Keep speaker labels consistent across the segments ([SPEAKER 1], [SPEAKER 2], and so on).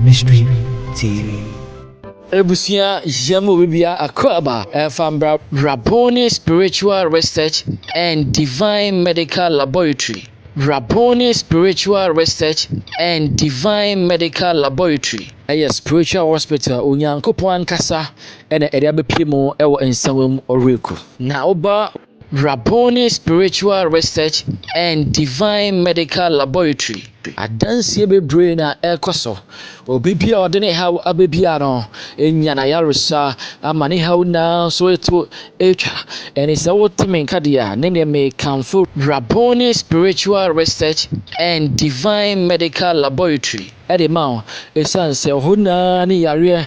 [SPEAKER 1] Mystery TV. Ebusua
[SPEAKER 2] yɛ mu bibia akoraba ɛfa Rabboni Spiritual Research and Divine Medical Laboratory Rabboni Spiritual Research and Divine Medical Laboratory ɛyɛ spiritual hospital Onyankopɔn ankasa Ɛna ɛde abɛpie mu wɔ nsawam ɔreku. Na woba Rabboni Spiritual Research and Divine Medical Laboratory adanseɛ bebree na ɛrekɔ so. Obi bi a ɔde ne haw aba biara no nya n'ayaresa ama ne haw nyinaa so ɛto atwa. Ɛne sɛ wote me nka deɛ a ne neɛ mekamfo Rabboni Spiritual Research and Divine Medical Laboratory. de ma wo esiane sɛ ɔhaw nyinaa ne yareɛ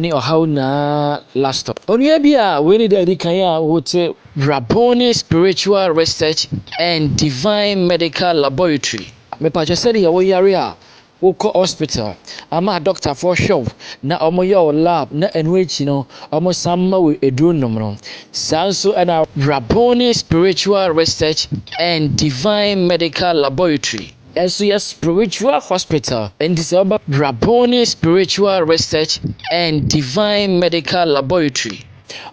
[SPEAKER 2] ne ɔhaw nyinaa lastɔ. Onua bi a wei ne da a ɛdi kan a ɔte Rabboni Spiritual Research and Divine Medical Laboratory, Mepakyɛ sɛdeɛ wo yare a wokɔ hospital ama adɔktafoɔ hwɛ wo na wɔyɛ wo lab na ɛno akyi no wɔsan ma wo aduro nom no saa nso na Rabboni Spiritual Research and Divine Medical Laboratory, Ɛnso yɛ spiritual hospital, enti sɛ woba Rabboni Spiritual Research and Divine Medical Laboratory,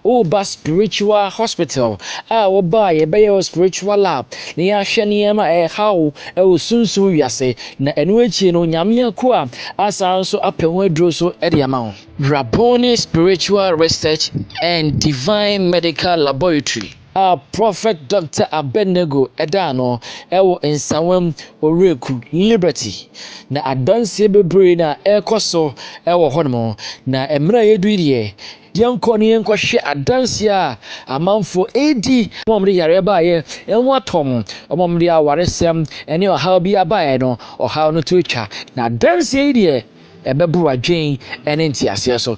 [SPEAKER 2] woreba spiritual hospital a woba a yɛbɛyɛ wo spiritual lab na yɛahwɛ nneɛma a ɛrehaw wo wɔ sunsum wiase, na ɛno akyi no Nyame akoa asan nso apɛ ho aduro so de ama wo. Rabboni Spiritual Research and Divine Medical Laboratory. a Prɔfɛt Dɔkta Abednego daa no wɔ Nsawam Owuraku Liberty, na adanseɛ bebree na ɛrekɔ so wɔ hɔnom, na mmerɛ a yɛduru yi deɛ, yɛnkɔ na yɛnkɔhwɛ adanseɛ a amanfoɔ redi, wɔn a wɔde yareɛ baeɛ ho atɔ wɔn, wɔn a wɔde awaresɛm ne ɔhaw biara baeɛ no, ɔhaw no to atwa, na adanseɛ yi deɛ, ɛbɛboro adwene ne nteaseɛ so.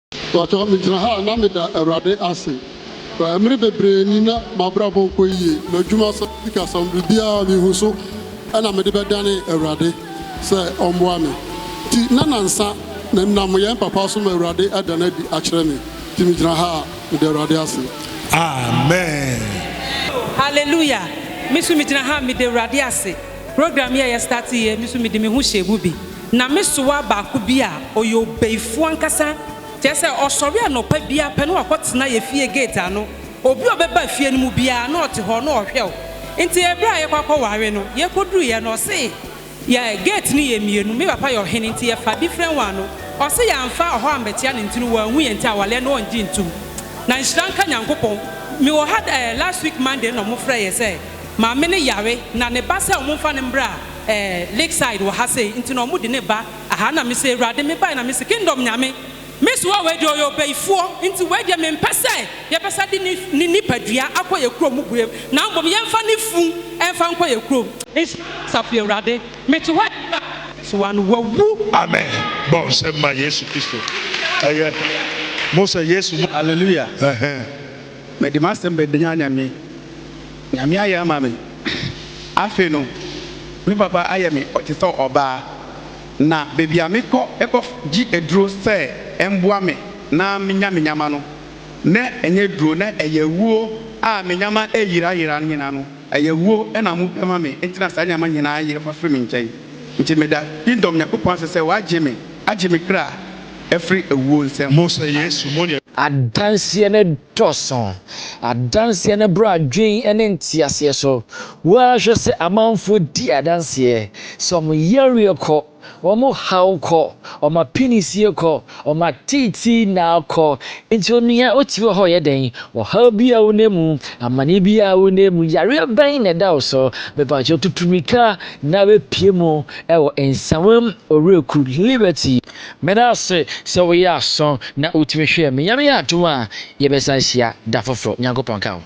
[SPEAKER 3] Mpakyɛw megyina ha a na meda Awurade ase. Mmere bebree ni na m'abrabɔ nkɔ yiye, m'adwumasɛm, sikasɛm, biribiara mihu so na mede bɛdane Awurade sɛ ɔmmoa me. Nti na nansa menam yɛn papa so ma Awurade ada no adi akyerɛ me. Nti megyina ha a meda Awurade ase. Amen.
[SPEAKER 4] Hallelujah! Me nso megyina ha a meda Awurade ase. Program yi a yɛ starte yi, me nso mede me ho hyɛɛ mu bi. Na me sowa baako bi a ɔyɛ ɔbayifoɔ ankasa, kyerɛ sɛ ɔsɔre anɔpa biara pɛ na wakɔtena yɛn fie gate ano, obi a ɔbɛba fie no mu biara na ɔte hɔ na ɔhwɛ wo. Nti ɛberɛ a yɛkɔ akɔware no, yɛkɔduruiɛ no, ɔse yɛ gate no yɛ mmienu, me papa yɛ ɔhene nti yɛfa different one no, ɔse yɛamfa ɔhɔ ammɛkyea no nti no wanhu yɛn nti awaleɛ no ɔngye ntom. Na nhyira nka Nyankopɔn, mewɔ ha ɛɛ last week Monday na wɔfrɛɛ yɛn sɛ maame no yare na ne ba sɛ wɔmfa no mmra, ɛɛ Lakeside wɔ ha sei nti na ɔmo de ne ba aha na me se Awurade me bae na me se Kingdom Nyame me soa wei deɛ ɔyɛ ɔbayifoɔ nti wei deɛ me mpɛ sɛ yɛ bɛsa de ne ne nipadua akɔ yɛ kurom mu biem na mbom yɛ nfa ne fun nfa nkɔ yɛ kurom nhyira no Asafo Awurade me te hɔ a yɛ ba soa no wawu. Amen bɔ
[SPEAKER 5] nsɛm ma Yesu Kristo ɛyɛ mo sɛ Yesu mo. Hallelujah.
[SPEAKER 6] Mede m'asɛm bɛdanyan Nyame. Nyame ayɛ ama me. Afei no, me papa ayɛ me ɔte sɛ ɔbaa, na baabi a mekɔ kɔ gye aduro sɛ ɛmboa me na menya me nyama no, na ɛnyɛ aduro, na ɛyɛ awuo a me nyama ɛyera yera no nyinaa no, ɛyɛ awuo na mo pɛ ma me, nti na saa nneɛma nyinaa yera fa firi me nkyɛn. Nti meda Kingdom Nyankopɔn ase sɛ w'agye me, agye me kra afiri awuo nsam. Mo sɛ Yesu mo yɛ.
[SPEAKER 5] Adanseɛ
[SPEAKER 2] no Dɔɔso. Adanseɛ no boro adwene ne nteaseɛ so. Wo ara hwɛ sɛ amanfoɔ di adanseɛ sɛ wɔn yareɛ kɔ, wɔn haw kɔ, wɔn apinisie kɔ, wɔn ateetee nna kɔ. Enti onua, wote hɔ a ɔyɛ dɛn? Ɔhaw biara a wonam mu, amane biara a wonam mu, yareɛ bɛn na ɛda wo so? Mepa wo kyɛw, tutu mmirika na bɛpue mu wɔ Nsawam Owuraku Liberty. Meda wo ase sɛ woyɛɛ asõ na wutumi hwɛɛ me. Nyame yɛ adom a, yɛbɛsan ahyia da foforo. Nyankopɔn nka wo.